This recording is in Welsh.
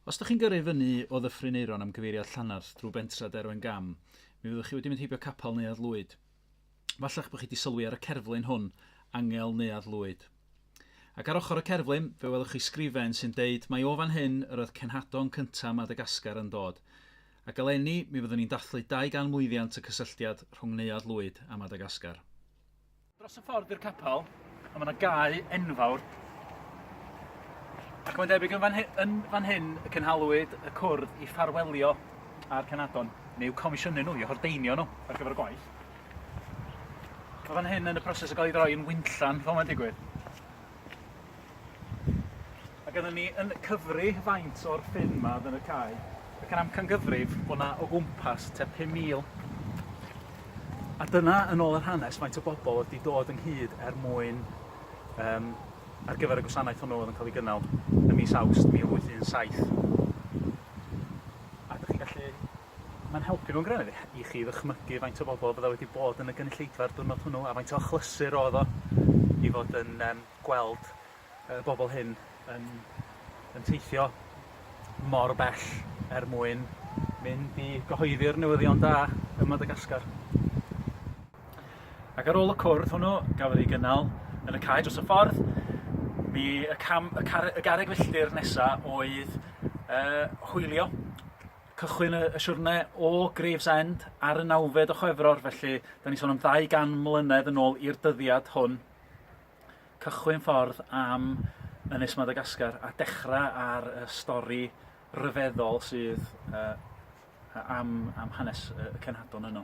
Os ydych chi'n gyrru i fyny o Ddyffryn Aeron am gyfeiriad Llanarth drwy Bentra Derwen Gam, mi fyddwch chi wedi mynd heibio Capel Neuadd Lwyd. Falla'ch bod chi wedi sylwi ar y cerflun hwn, Angel Neuadd Lwyd. Ac ar ochr y cerflun, fe welwch chi sgrifen sy'n deud mai o fan hyn yr oedd cenhadon cyntaf Madagascar yn dod. Ac eleni, mi fyddwn ni'n dathlu 200 mlwyddiant y cysylltiad rhwng Neuadd Lwyd a Madagascar. Dros y ffordd i'r capel, a mae yna gae enfawr. Ac mae'n debyg yn fan, hyn, yn fan hyn y cynhalwyd y cwrdd i ffarwelio a'r Canadon, neu comisiynu nhw i hordeinio nhw ar gyfer y gwaith. Mae fan hyn yn y proses o gael ei droi yn wynllan, fel mae'n digwydd. Mae gennym ni yn cyfri faint o'r ffyn 'ma yn y cae, ac yn amcangyfrif bod 'na o gwmpas tua 5,000. A dyna, yn ôl yr hanes, faint o bobl oedd wedi dod ynghyd er mwyn um, ar gyfer y gwasanaeth hwnnw oedd yn cael ei gynnal ym mis Awst 1817. A ydych chi'n gallu Mae'n helpu mewn gwirionedd i chi ddychmygu faint o bobol fydda' wedi bod yn y gynulleidfa'r diwrnod hwnnw a faint o achlysur o'dd o i fod yn yym gweld y bobol hyn yn yn teithio mor bell er mwyn mynd i gyhoeddi'r newyddion da ym Madagascar. Ac ar ôl y cwrdd hwnnw gafodd ei gynnal yn y cae dros y ffordd, mi y cam y car- y garreg filltir nesa oedd yy hwylio Cychwyn y y siwrne o Gravesend ar y nawfed o Chwefror felly 'dan ni'n sôn am ddau gan mlynedd yn ôl i'r dyddiad hwn. Cychwyn ffordd am Ynys Madagascar a dechra ar y stori ryfeddol sydd yy yy am am hanes y y cenhadon yno.